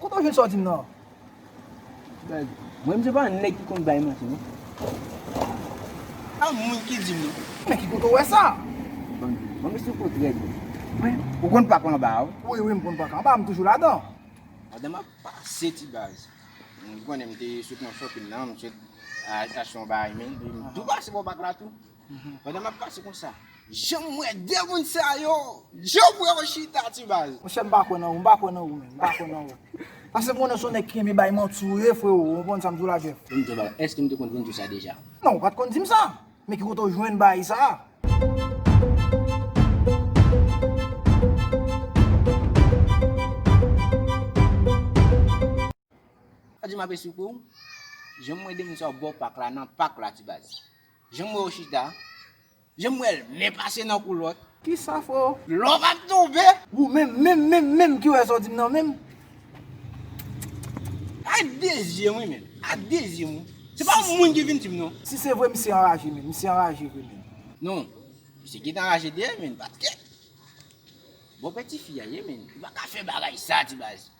Kote w jwenn sa w di m nan an? Gad, mwen menm se pa nèg ki konn bay manti non. Pa mwen ki di m non. Men ki kote w wè sa? Banm di w. Banm esplike w trè byen. Mwen. Ou konn pak anba a wi. Wi wi m konn pak anba a, m toujou ladan. Ladan m ap pase ti baz. Ou konnen m te sot nan fòkil nan, m sot achte yon bagay men, m tou pase bò pak la tou. Pandan map pase konsa. Janm wè 2 moun sa yo. Joe bwe ou chita ti baz. Monchè m pa kwè nan ou, m pa kwè nan ou menm, m pa kwè nan ou. Pase m konnen son nèg ki renmen bay manti ou ye freo, ou konprann sa m di w la Jeff? Vin di w bagay, èske m te konn vin di w sa deja? Non, ou pat konn di m sa, men ki kote w jwenn baay sa a? Ou di m ap esplike w, janm wè 2 moun sa yo bò pak la, nan pak la ti baz. Janm wèw chita. Janm wèl men pase nan kou lòt. Kisa fò. Love ap tonbe. Ou menm menm menm menm ki wè sa w di m nan menm. Ak de zyem wi menm. Ak de zyem wi. Se pa yon moun ki vin di m non. Si se vre misye anraje menm. Misye anraje vre menm. Non. Misye gentan anraje deyèm menm paske. Bon pè tifi a ye menm. Ou pa ka fè bagay sa ti baz.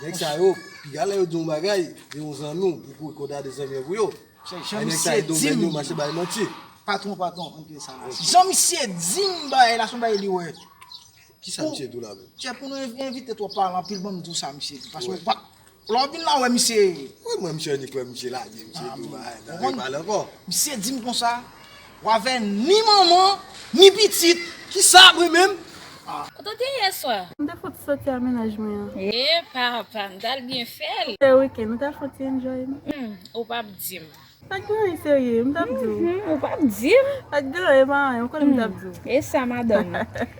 Nèg sa yo piga lè yo di yon bagay de yon zanmi w pou kou konta de zanmi an pou yo. Jan misye dim Patron patron ann pye sa la. Jan misye dim bagay la son bagay li wè. Kisa misye di w la menm? Chè pou nou evite twòp pale anpil banm di w sa misye di paske ou pa lè w vin la wè misye. Mwen menm chè ni kwè misye lage misye di yon bagay nan repale ankò. Misye dim konsa. Wavè ni manman ni pitit. Ki sa vre menm? Ou te di yè swa? M te fouti soti a menaj mwen an. E papa, m tal byen fè l. Te weekend, ou ta fouti enjoy l. Hum, ou pap di m. Pat gen anyen serye, m tap di w. Hum, ou pap di m. Pat gen anyen pa anyen, ou konn m tap di w. E sa madanm.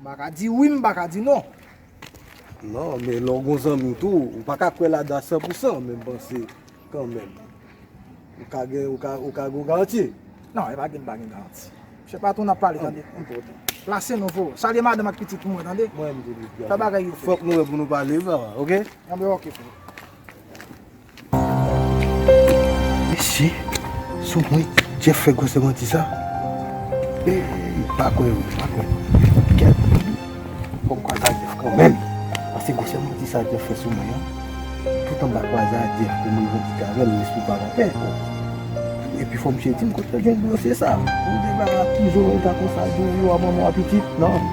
M pa ka di wi m pa ka di non. Non, men lè w gen yon zanmi w tou, ou pa ka kwè ladan a san pou san, men m panse kanmenm ou ka gen ou ka ou ka gen yon garanti. Non, e pa di m pa gen garanti. Mesye patwon n ap pale tande. Plase nou fo. Salye madanm ak pitit pou mwen tande. Mwen menm tou. Fè bagay yo fo. Fòk nou wè pou nou pale, ok? Anben ok fo. Mesye, sou mwen Jeff fè gwosè manti sa? Eeyy, m pa kwè vre, m pa kwè. Gad fi, fò m kwasa Jeff kanmenm. Pase gwosè manti sa Jeff fè sou mwen an, tout anba kwaza Jeff pou m revandike avè l lespri pa la pè. Epi fò misye di m kote l jwenn gwosè sa. Yon debara ki zo reta konsa di w yo a manman w a pitit, nan.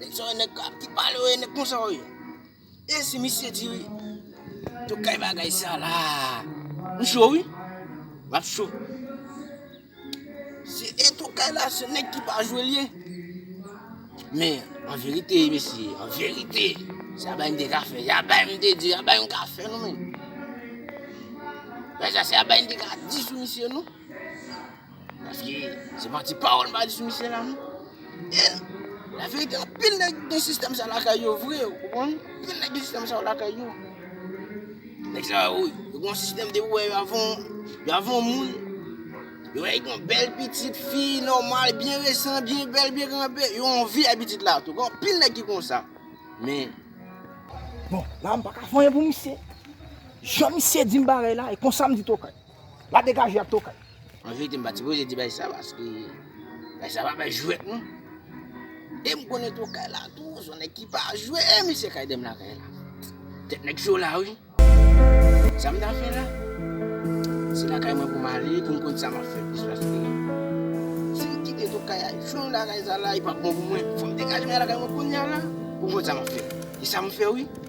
Nèg sa yo nèg kap ki pale yo ye nèg konsa yo ye e si misye di tokay bagay sa la m cho wi map cho se e tokay la se nèg ki pa jwe l ye men an verite mesye an verite se aba m te ka fè se aba m te di aba m ka fè nou menm men sa se aba m te ka di sou misye nou Paske se pa ti pawòl mwen di sou misye la non. E, la verite anpil nèg gen sistèm sa lakay yo vre, ou konprann? Anpil nèg gen sistèm sa yo lakay yo. Nèg sa yo, yo gen yon sistèm depi yo wè yo avè yon, yo avè yon moun, yo wè li gen yon bèl pitit fi, nòmal, byen resan, byen bèl, byen kanpe, yo anvi avè pitit la tou. Gen anpil nèg ki konsa. Men, bon, la a m pa ka vanyan pou misye. Jan misye di m bagay la, e konsa m di tokay. La degaje ak tokay. An verite m pa t sipoze di bagay sa paske bagay sa pa bagay jwèt non. E m konnen tokay la tou son nèg ki pa jwe e misye ka ede m lakay la. Tèt nèg cho la wi. Sa m ta fè la? Se lakay mwen pou m ale pou m konn sa m ap fè plis paske si m kite tokay a jou m lakay sa la e pa bon pou mwen. Fò m degaje m ale lakay mwen kounya la pou m konn sa m ap fè. E sa m fè wi.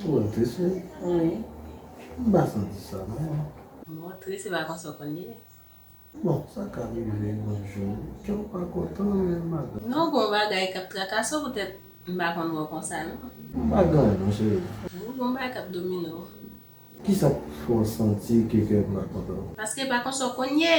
Twò tris wi. Wi. M pa santi sa non. Bon tris se pa konsa w konn ye. Bon sa ka rive yon jou kè w pa kontan men madanm. Non gon bagay kap trakase w poutèt m pa konn wè w konsa non. M pa gen anyen non cheri. Ou gon bagay kap domine w. Kisa k fè w santi ke kè m pa kontan? Paske e pa konsa w konn ye.